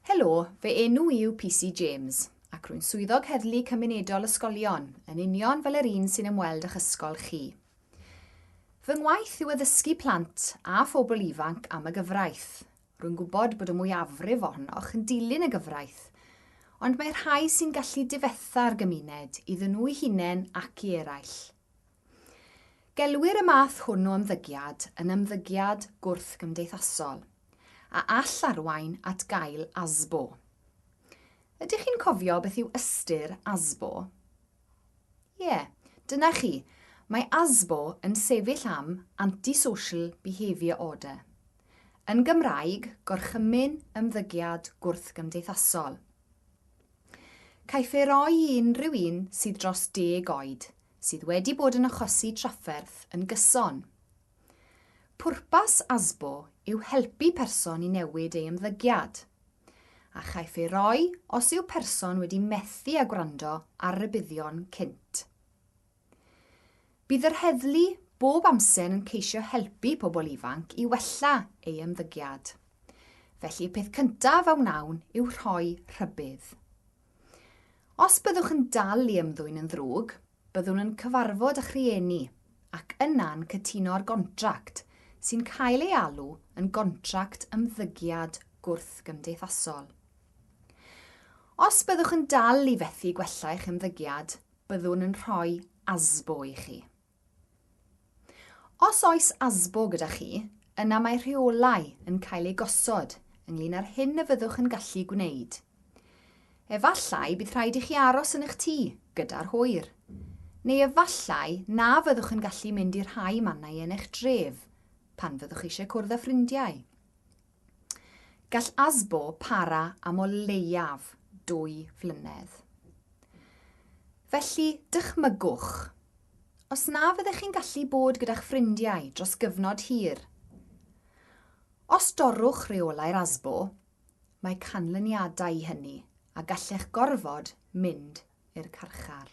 Helo, fy enw yw PC James, ac rwy'n swyddog heddlu cymunedol ysgolion, yn union fel yr un sy'n ymweld â'ch ysgol chi. Fy ngwaith yw addysgu plant a phobl ifanc am y gyfraith, Rwy'n gwybod bod y mwyafrif ohonoch yn dilyn y gyfraith, ond mae rhai sy'n gallu difetha'r gymuned, iddyn nhw'u hunain ac i eraill. Gelwir y math hwn o ymddygiad yn ymddygiad gwrthgymdeithasol, a all arwain at gael ASBO. Ydych chi'n cofio beth yw ystyr ASBO? Ie, dyna chi, mae ASBO yn sefyll am Antisocial Behaviour Order. Yn Gymraeg, Gorchymyn Ymddygiad Gwrthgymdeithasol. Caiff ei roi i unrhyw un sydd dros deg oed, sydd wedi bod yn achosi trafferth yn gyson, Pwrpas ASBO yw helpu person i newid ei ymddygiad, a chaiff ei roi os yw person wedi methu â gwrando ar rybuddion cynt. Bydd yr heddlu bob amser yn ceisio helpu pobl ifanc i wella ei ymddygiad, felly y peth cyntaf a wnawn yw rhoi rhybudd. Os byddwch yn dal i ymddwyn yn ddrwg, Byddwn yn cyfarfod â'ch rhieni ac yna'n cytuno ar gontract sy'n cael ei alw yn gontract ymddygiad gwrthgymdeithasol. Os byddwch yn dal i fethu gwella eich ymddygiad, byddwn yn rhoi ASBO i chi. Os oes ASBO gyda chi, yna mae rheolau yn cael eu gosod ynglŷn â'r hyn y fyddwch yn gallu gwneud. Efallai bydd rhaid i chi aros yn eich tŷ gyda'r hwyr. Neu efallai na fyddwch yn gallu mynd i rhai mannau yn eich dref pan fyddwch eisiau cwrdd â ffrindiau. Gall ASBO para am o leiaf dwy flynedd. Felly, dychmygwch, os na fyddech chi'n gallu bod gyda'ch ffrindiau dros gyfnod hir. Os dorrwch reolau'r ASBO, mae canlyniadau i hynny a gallech gorfod mynd i'r carchar.